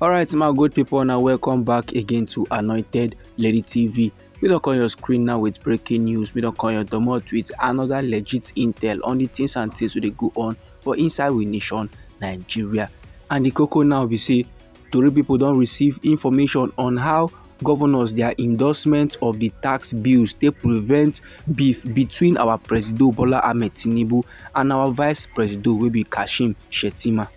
alright my good people now welcome back again to anointed lady tv we don't call your screen now with breaking news we don't call your domot with another legit intel on the things and things we go on for inside we nation nigeria and the cocoa now we see Tori pipo don receive information on how govnors dia endorsement of di tax bills take prevent beef between our presido Bola Ahmed Tinubu and our vice presido wey be Kashim Shettima.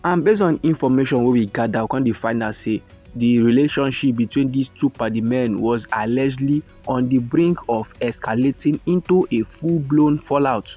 And based on information wey we gather, we come dey find out say di relationship between dis two party men was allegedly on di brink of escalating into a full-blown fallout.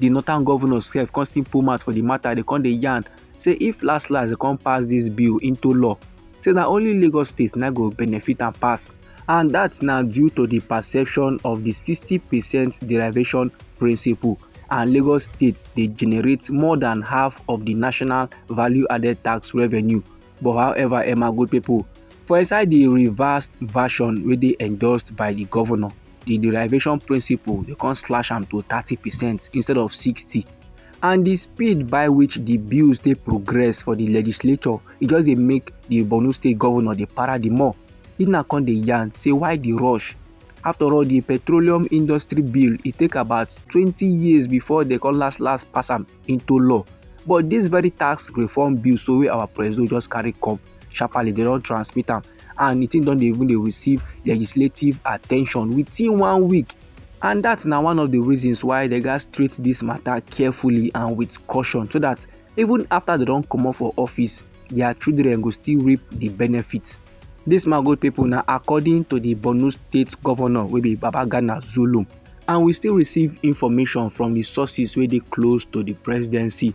di northern governors sef come still put mouth for di matter dey come dey yarn say if last last dey come pass dis bill into law say na only lagos state na go benefit am pass and dat na due to di perception of di sixty percent derivation principle and lagos state dey generate more than half of di national value added tax revenue but however emma good pipo for inside di reversed version wey dey endorsed by di governor the derivation principle they come slash am to thirty percent instead of sixty and the speed by which the bills dey progress for the legislature e just dey make the borno state governor dey para the more if na come dey yarn say why the rush after all the petroleum industry bill e take about twenty years before they come last last pass am into law but this very tax reform bill so wey our president just carry come sharparly they don transmit am and di thing don dey even dey receive legislative attention within one week and dat na one of di reasons why dem gatz treat dis matter carefully and with caution so dat even after dem don comot for office their children go still reap di benefit dis magote people na according to di borno state governor wey be babagana zulum and we still receive information from di sources wey dey close to di presidency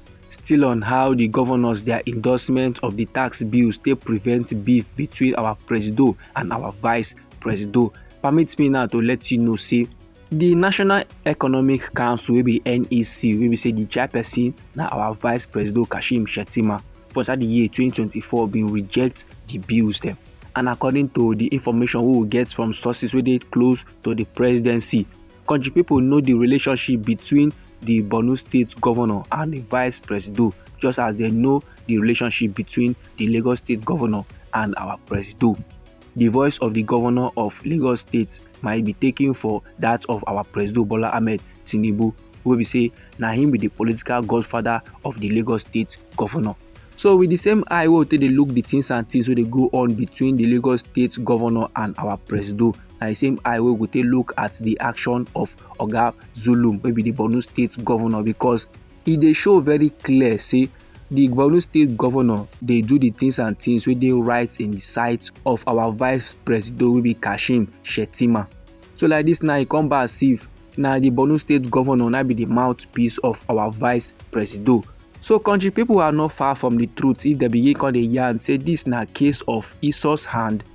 Still on how di govnors dia endorsement of di tax bills take prevent beef between our presido and our vice presido, permit me now to let you know say di national economic council wey be nec wey be say di chairperson na our vice presido kashim shettima for inside di year 2024 bin reject di bills dem and according to di information wey we get from sources wey dey close to di presidency Kontri pipo know di relationship between di Borno state govnor and di vice presido just as dem know di relationship between di Lagos state govnor and our presido. Di voice of di govnor of Lagos state might be taken for dat of our presido Bola Ahmed Tinubu wey be say na him be di political godfather of di Lagos state govnor. So with di same eye wey we take dey look di tins and tins wey dey go on between di Lagos state govnor and our presido na the same eye wey we go take look at the action of oga zulum wey be the borno state governor because e dey show very clear say the borno state governor dey do the things and things wey dey right in the sight of our vice president wey be kashim shettima so like this now e come back as if na the borno state governor na be the mouthpiece of our vice president so country people are not far from the truth if dem begin come dey yarn say this na case of isos hand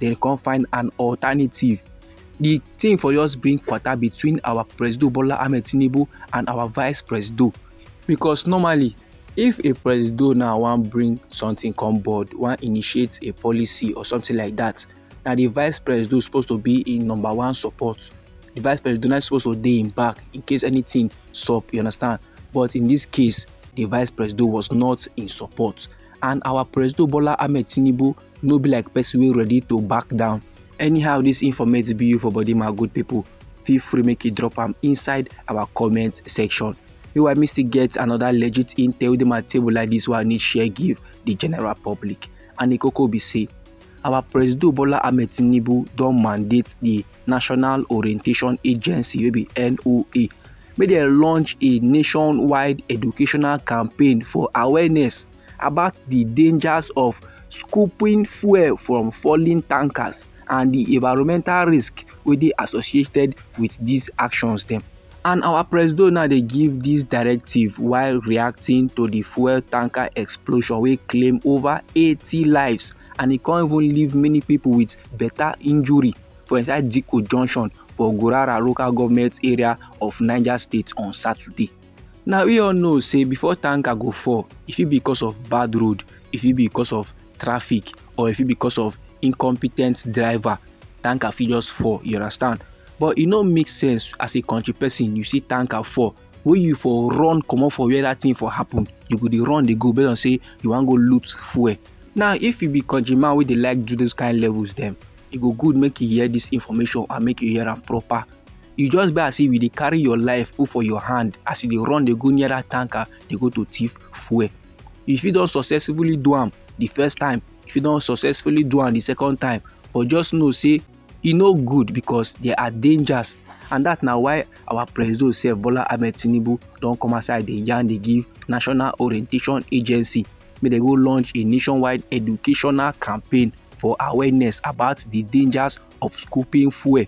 then come find an alternative. The thing for us bring quarter between our Presido Bola Ahmed Tinubu and our Vice Presido. Because normally, if a Presido now wan bring something come board, wan initiate a policy or something like that, na the Vice Presido suppose to be in number one support. The Vice Presido na suppose to dey im back in case anything sup, you understand? But in this case, the Vice Presido was not in support. and our president bola ahmed tinubu no be like person wey ready to back down anyhow this informate be you for body my good people feel free make you drop am inside our comment section you i missed to get another legit intel dey my table like this one i need share give the general public and the koko be say our president bola ahmed tinubu don mandate the National Orientation Agency wey be NOA make dem launch a nationwide educational campaign for awareness about the dangers of scooping fuel from falling tankers and the environmental risk wey dey associated with these actions dem. And our presido now dey give this directive while reacting to the fuel tanker explosion wey claim over 80 lives and e come even leave many people with better injury. for inside Dikko junction for Gurara local government area of Niger State on Saturday. Now we all know say before tanker go fall, if it because of bad road, if it because of traffic or if it because of incompetent driver, tanker fit just fall, you understand? But it no make sense as a country person, you see tanker fall, wey you for run comot for where that thing for happen, you go dey run dey go based on say you wan go loot fuel. Now if you be country man wey dey like do those kind levels dem, e go good make you hear this information and make you hear am proper you just be as if you dey carry your life put for your hand as you dey run dey go near that tanker dey go to thief fuel you fit don successfully do am the first time you fit don successfully do am the second time but just know say e no good because there are dangers and that na why our president sef bola ahmed tinubu don come outside dey yarn dey give national orientation agency make dem go launch a nationwide educational campaign for awareness about the dangers of scooping fuel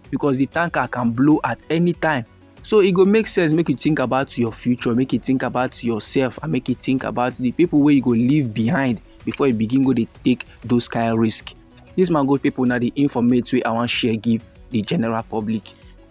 because the tanker can blow at any time so it e go make sense make you think about your future make you think about yourself and make you think about the people where you go leave behind before you begin go to take those kind of risk this man go people now the informate way i want share give the general public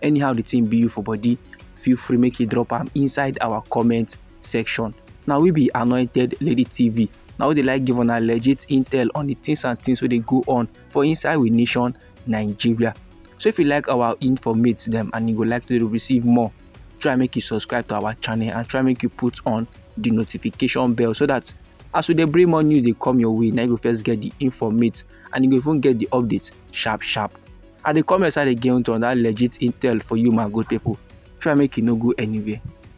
anyhow the thing be you for body feel free make you drop them inside our comment section. Now we be Anointed Lady TV. Now we dey like give una legit intel on the things and things wey dey go on for inside we nation Nigeria. So if you like our informate them and you would like to receive more, try make you subscribe to our channel and try make you put on the notification bell so that as we dey bring more news dey come your way na you go first get the informate and you go even get the update sharp sharp i dey come your side again to another legit intel for you my good people try make you no go anywhere.